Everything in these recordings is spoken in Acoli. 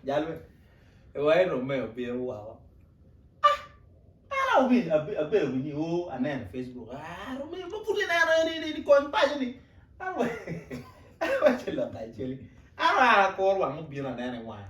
Jal me wai Romeo bino woko. Ana awinyo abedo winyo o oh, aneno e Facebook. Ah Romeo ma pud ineno ni ni ni kony paco ni. Awe. Awe chelo ka cheli. Ara ara kor wang obiro aneno e wang.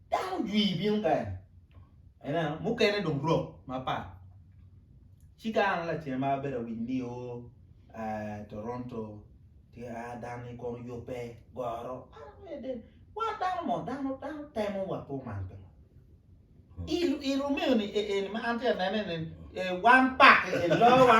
Dano jwi bino kany, ineno, mukene dong rok mapat. Ci ka an lacen ma abedo awinyo ni o Toronto ti a dan-ni kono yubbe, goro, wan dano mo, dano temo wa pe oman pe. Irumiyo ni eni ma an ti anene-ni, wan pakke elowa.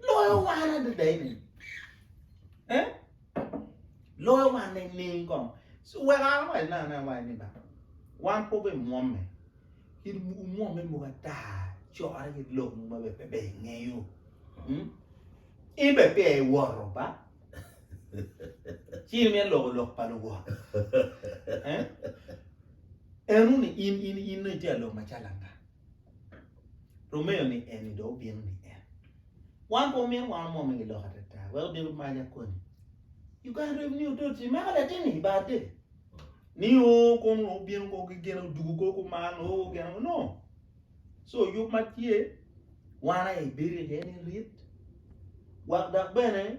Loyo wan adada eni. Eh? Loyo wan ne ning kong. So wek an awac na ne awac ni ba. Wan po be mwomme. Kit mwomme mo ata cora ki lok mo ma be pe be ingeyo. Hmm? In be pe e woro ba. Cini me loko lok pa luwot. Eh? Enu ni in in in ite lok macalanga. Rumeyo ni eni dong obino ni en. Wan pe omyero wan omwome gi lok atata. Wek odiro mac akoni. You can rip ni otot ci mako latini i bar dede. Ni o kono obino ko ki gene odugu ko kuman o gene no. So yub ma tye wan aye bedo iye ni rit wak dok bene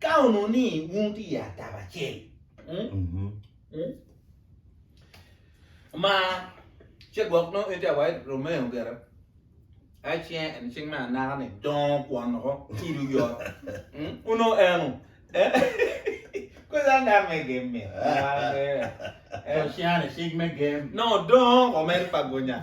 Ka onongo ni wun wutye i atabo acel ma ce gwok nongo in tye awail Romeo gire, aye cinge en cing me anaka ni dongo kwon oko ilo oyot onongo eno kwedha ngat me gem mi to cingane cing me gem nongo dongo wa mere pa gunya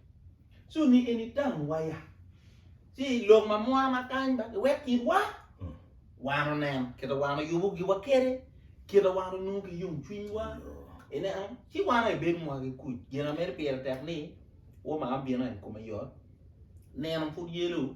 so ni en itang waya ci lok ma mura ma kany ba wek itwa wano nen kita wano yubo giwa kede kita wano nung ki yung cwiny wa ene ang ci wano e ben mwa ki kuc gina mere pire tek ni wo ma abino en kome yot neno pud yelo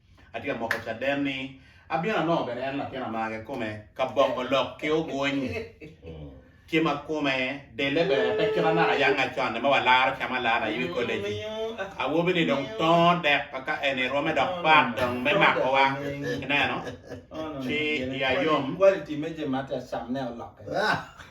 Atye ka moko caden ni abino anongo bene en latin amage kome ka bongo lok ki ogwony. Tye ma kome dele bene pe kit anaka yanga con-ni ma walaro cam alala i wi koleji. Awobi-ni dong tongo dek ka en-ni rwome dok pat dong me makowa. Ineno? Ci iya yom.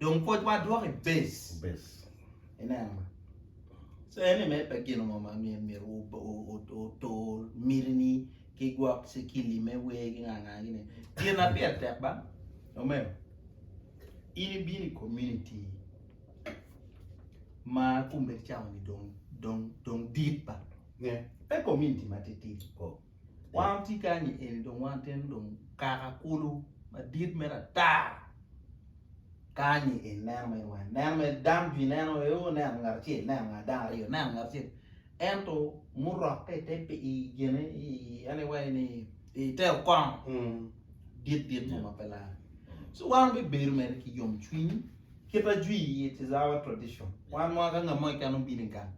Dong pwocwa dwoko i base. Ineno? So ene mere pe gin mo ma myero otur mitini ki gwok cikili me wer ki nga nga gine. Gin ma pire tek ba, omego, in ibino i community ma kumbe cawa-ni dong dong dong dit ba. Pe community ma titidi. Wan watye kany i eni dong wan tyen dong kaka kulu madit mere ata kany-nyi eni neno mere weng neno mere dam jwi neno mere o neno ngat acel neno ngat dano aryo neno ngat acel ento murokke i te pi i gine i en i wai ni i te okono dit dit mo ma pe lar so wan bibedo mere ki yom cwiny kita jwi it is our tradition wan mwaka ngat mo keken obino i gang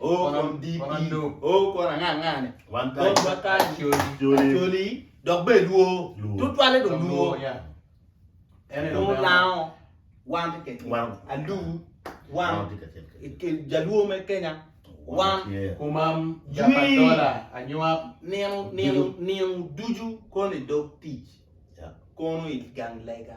O kom DP, O kom anga anga ni. Wan kany Acholi dok be luo tutwale do luo. Luo lango wan ti kacel. Alu wan jaluo me Kenya wan kumam japa dola anywap nino nino nino ducu koni dog tic kono i gang lega.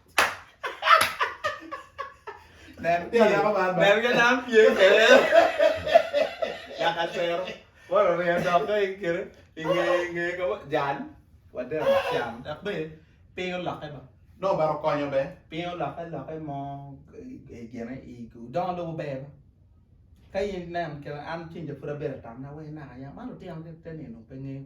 Nen ka dako man ba. Nen ka dano pye kede. Dak atero. Wara orye dok ka in kede. Inge inge ka wa jal. Wadero can. Dak be piny olokke ba. Dong obaro konyo be. Piny olokke lokke mo gine i dongo lobo ber ba. Ka in nen kede an cinja pud abedo atamna wai naka yam. Man lutino ni te nino pe ngeyo.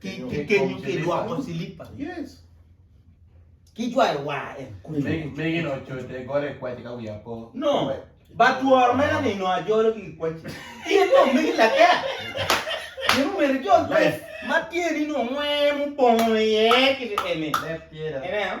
ki kenyo ki lwoko cilipa ki jwayo war en mege no cote gole kwaci ka wiya po no ba tworo mena ni no ajolo ki kwaci in no mege lake Yung mere jol ma tye ni no ngwe mu bongo ye ki ene ene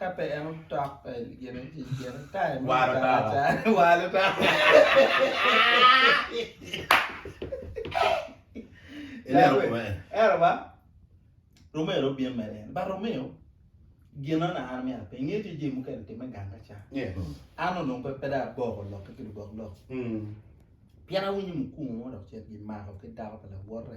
Ka pe en otok pe gin i tic gin time mo Walo tara. karaca. Walo ta. Ilero Dawe. kome. Ero ba Romeo ro byen mere en. Ba Romeo gino na an mya pe nge ci ji mukene time ganga ca. Yes. An onong pe pe da aboko lok ki lubok lok. Mm. Pien awinyo mukungu mo dok cen gimako ki dako pa lawote.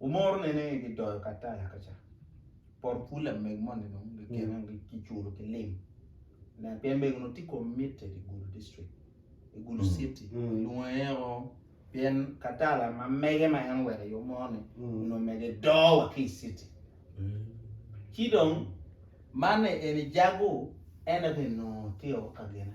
Wumoro nene ni gidoyo kataya ka ca, poto pul lamego moni dong gikine giculo ki lim ne pien mego onongo tye committed i Gulu district, i Gulu city kilwongo aye o pien katala ma mege ma en oweko i omo ni onongo mege do wa ki i city. Ci dong man eni jago en aye onongo tye o ka gine.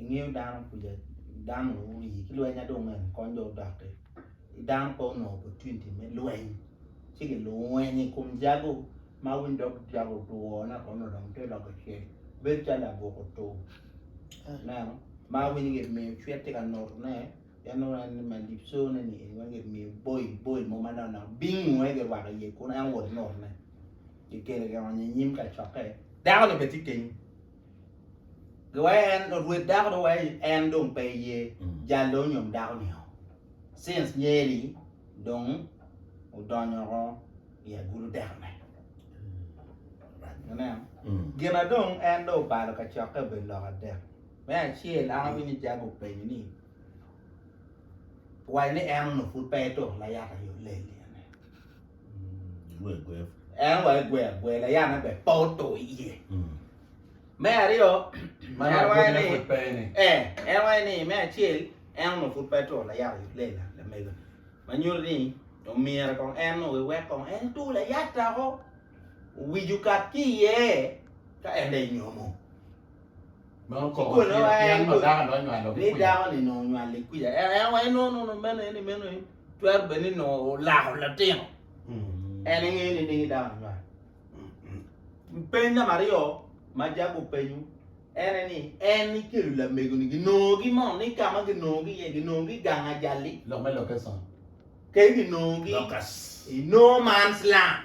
ingeyo dano kuca dano onongo ori ki lweny ma dong en kony dong odoki dano pe onongo opportunity me lweny ci gilweny i kom jago ma winy dog jago otwo naka onongo dong tye loko cel bedo calo labwok otur ineno ma winy gimiyo cwit tye ka notone pien nongo en ma libcone ni eni weng gimiyo boil boil mo ma nongo naka bingu aye girwako iye kunu en owot notone kikelo kionyo inyim kacokke dako-ni bene tye kenyo. Wek en, rwed dako dong wek en dong pe ye, jal dong onyom dako nio. Since nyeri dong odonyo ko i agulu teko ne. Ineno? Gina dong en dong obalo ka cokke obedo lok adek. Me acel an awinyo ni Jago openyo ni, Waco ni en onongo pud pe etuko layata yo lel-li? En wa egwe agwe layan ne bene pe oto iye me aryo en waye ni eh en waye ni me acel en onongo pud pe to layat oyub lela lamego ma nyuto ni omyero kong en nongo ewek kong en to layat dako owic okat ki iye ka en dong enyomo ni dako ni nongo onywalo kwija en waye no no no meno eni meno eni Twero bed ni nongo olako latin. En engeyo ni dingi dano nywal. Peny namba aryo ma Jack openyo en en ni en ikelo lamego ni ginongogi mo ni ka ma ginongogi iye ginongogi gang ajali. Lok me location. Ke ginongogi i no man's land.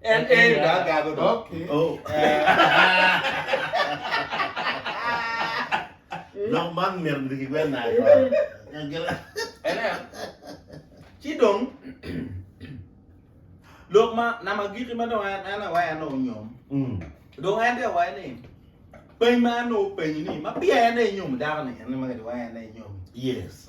En en ga gago do. Okay. Oh. Lok man myero bidi ki gwen nayo. Ene. Ci dong lok ma nama giki ma dong en en awaya no nyom. Mm. Dong en te awaya ni peny ma en no peny ni ma pia en e nyom dako ni en ma gadi waya en e nyom. Yes.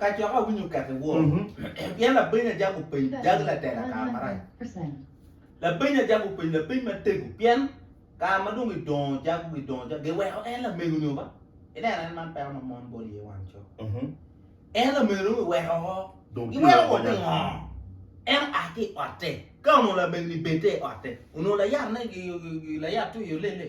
Kacok awinyo kek i wor, pien labeny ajako openy jag latela kare marac. Labeny ajako openy lapeny matego, pien kare ma dong gidongo jago gidongo jago giweko en lamego nyo ba? Ineno en man peko ma mon bol iye wan co. En lamego dong giweko ho, giweko wot i ngo? En oa ki otte ka onongo lamego ni bed te i otte, onongo layat ne layat to i olele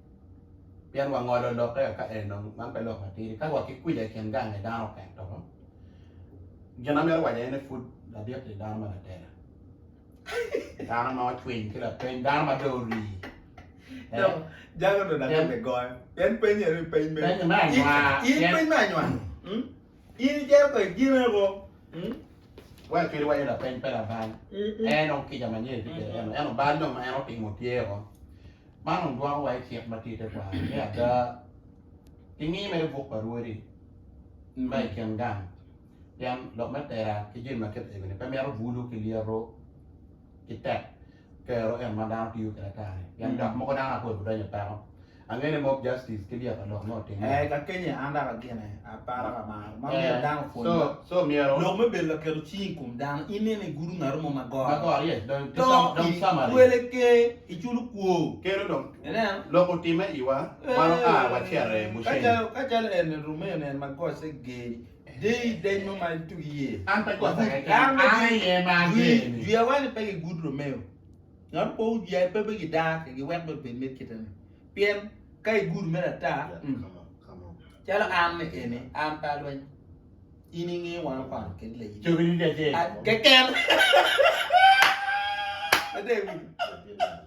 pien wangolo lokke aka en dong man pe lok matidi ka wa ki kwica i kin gang i dano kek to gin amito waco aye ni pud ladit ni dano ma latela dano ma ocwiny ki lapeny dano ma dong orii Jago dong ladit ni goyo pien penye ni peny me anywar in peny me anywar In ijer kwede gineko. Mm. Wek cwiny iwaco lapeny pe labal. En on kica ma nyen tye kede en. En obal dong ma en otimo tye o. Man on dwoko wa icik ma tye te kwa. Me ada, kingi mere buk pa rwodi ma i kin gang. Pien lok me tera ki jemi ma kit egoni pe mito bulu ki lyeto ki tek. Kero en ma dano tiyo kede atari pien dok moko dano apoyo bi donyo peko. Ange ni mob justice ki lyeto lok me otimme. Eh ka kenye an dok agine apara ka mar ma myero dano opwony So, dok. so myero Lok me bedo laketo cing i kom dano, ineno i gudo ngato mo ma goro, magor yes dong ki to sam- dong i summary. twele ke i culo kwo. Keno dong Ineno? lok otimme iwa, wan oa wacito i Eh, Ka Bushenyi. calo ka calo en-ni Rumeo-ni en ma gocce geri, Deyi deny mo ma itug iye. An pe gwoko iye dano ma gin iye ma ageni. Jwi awani pe gigud Romeo. Ngat opo wi jwi pe be gidar ke giwek be bed me kite ni. Pien ka igud mere ata, calo an ni eni an pe alweny. In inge wan okwaro kedi la yin. Cogi ni dajee. Keken. Adegi.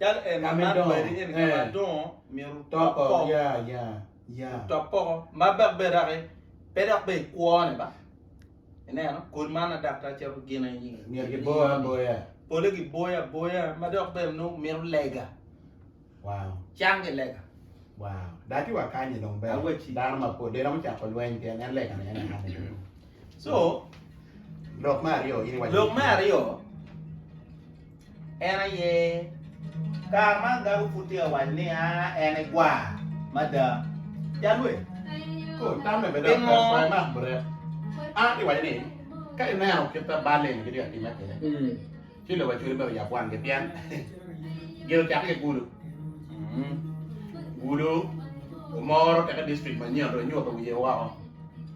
Ka me dongo, toko, ya, ya, ya. Top poko ma bak be raki pe dok be ikwone ba. Ineno, kodi man adapta calo gin aye nyinge. Myero giboyo aboya. Pole giboyo aboya ma dok bene nongo mito lega. Wow. Cang ki lega. Wow. Da ci wakanye dong be. Aweci. Dano mapol de romo cako lweny pien en lega ne en ane. So, lok me aryo, in iwaco. Lok me aryo, En aye kare ma agabo pud tye ka waco ni en e gwa mada. Calwe, pingo? An iwaco ni ka ineno kit ma bal eni gitye ka timme kwede, ci lobo acwali myero oyab wangi pien gin ocakke ki gudo. Gudo omoro teke district manyen dong enyuto wiye woko.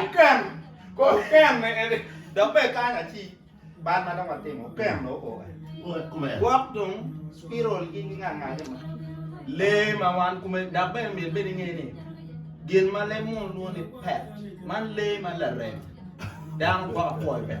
Oken, kor oken ne en dok bene kany aci bal ma dong watimo oken ne oko kome. Gwok dong spiral gi gingangage ma lee ma wan kome dok bene myero bed inge ni gin ma lee muno lwongo ni pet man lee ma larem dano gwok apwoyo pet.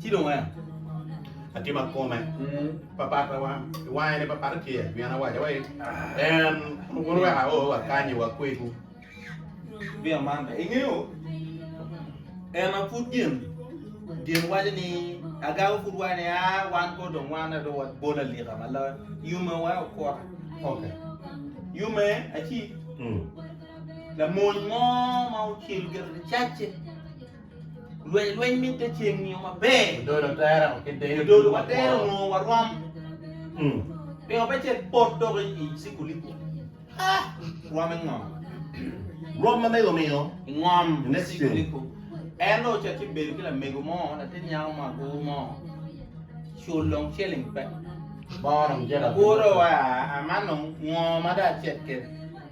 Ci dong wek atima kome papat wange ni papat tye pien awaco wai en wun wek ao wakanyi wakwegu vino man be ingeyo en ma pud gin gin waco ni agago pud waco ni a wan ko dong wan ado wabol alika ma la yume wa okota okay. yume aci mm. lamony mo ma ocel gire ni cacce Lweny lweny mitte ceng nio maber. Odolo tere ki deyo. Odolo wa tere nio wa rom. Mm. Pingo pe cek bot dok i sikulipo. Ha! Rom e ngom. Rom ma mego miyo. I ngom. I next sikulipo. En lo cek ci bedo ki la mego mo, la tin nyako mo agu mo. Chul long cheling pe. Bono mjera. Agu ro wa, amanong ngo ma da cek kere.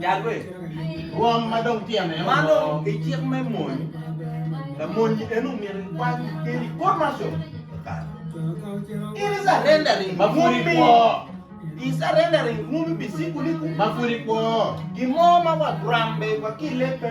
Jalwe, rwom ma dong tyene olo. Ma dong i cik me mony, lamony en omyero ikwany keri kor mar cobo kare. In is arendering ma pud ikwo. Is arendering rwom ibi sikuli ku ma pud ikwo. Gin mo ma wa grambe wa ki lebbe.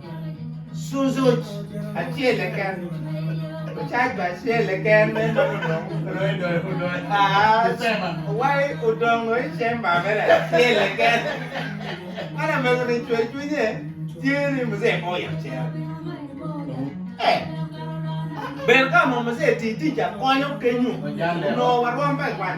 Cucuc acel keken, ocac bene acel keken me nongo dong odoyo doyo pu doyo cemba. Wai odongo i cemba mere acel keken. Man amego ni cwer cwinye tye ni muzee pe oyab cere. Eh, bed ka mo muzee ti tic akonyo kenyu onongo warwom pe kwan.